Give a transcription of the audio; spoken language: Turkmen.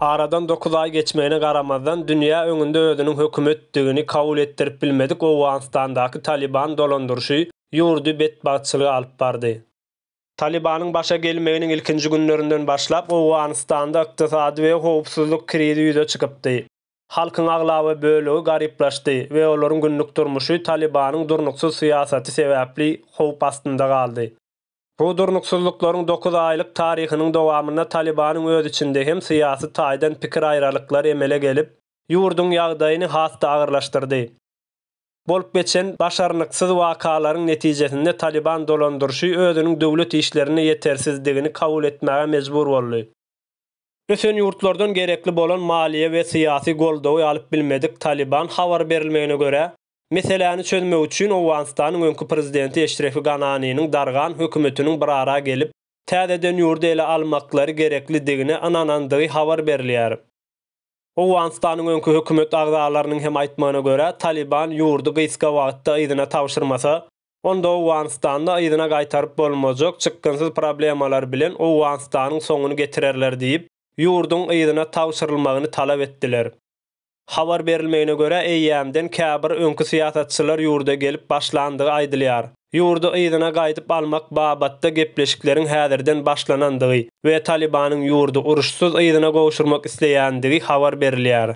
Aradan dokuz aý geçmegine garamazdan, dünýä öňünde özüniň hökümetdigini kabul etdirip bilmedik Owganystandaky Talyban dolandyryşy ýurdy betbagtçylyga alyp bardy. Talybanyň başa gelmeginiň ilkinji günlerinden başlap, Owganystanda ykdysady we howpsuzlyk krizi ýüze çykypdy. Halkyň aglaba bölegi garyplaşdy we olaryň günlük durmuşy Talybanyň durnuksyz syýasaty sebäpli howp astynda galdy. Bu durnuksyzlyklaryň dokuz aýlyk taryhynyň dowamynda Talybanyň öz içinde hem syýasy taýdan pikir aýralyklary emele gelip, ýurduň ýagdaýyny has-da agyrlaşdyrdy. Bolup geçen başarnyksyz wakalaryň netijesinde Talyban dolandyryşy özüniň döwlet işlerinde ýetersizdigini kabul etmäge mejbur boldy. Ösen ýurtlardan gerekli bolan maliýe we syýasy goldawy alyp bilmedik Talyban habar berilmegine görä, Meseläni çözmek üçin Owganystanyň öňki prezidenti Eşrefi Gananiniň dargan hökümetiniň bir ara gelip, täzeden ýurdy ele almaklary gereklidigine ynanandygy habar berilýär. Owganystanyň öňki hökümet agzalarynyň hem aýtmagyna görä, Talyban ýurdy gysga wagtda yzyna tabşyrmasa, onda Owganystanda yzyna gaýtaryp bolmajak çykgynsyz problemalar bilen Owganystanyň soňuny getirerler diýip, ýurduň yzyna tabşyrylmagyny talap etdiler. Habar berilmegine görä, eýýämden käbir öňki syýasatçylar ýurda gelip başlandygy aýdylýar. Ýurdy yzyna gaýdyp almak babatda gepleşikleriň häzirden başlanandygy we Talybanyň ýurdy uruşsyz yzyna gowşurmak isleýändigi habar berilýär.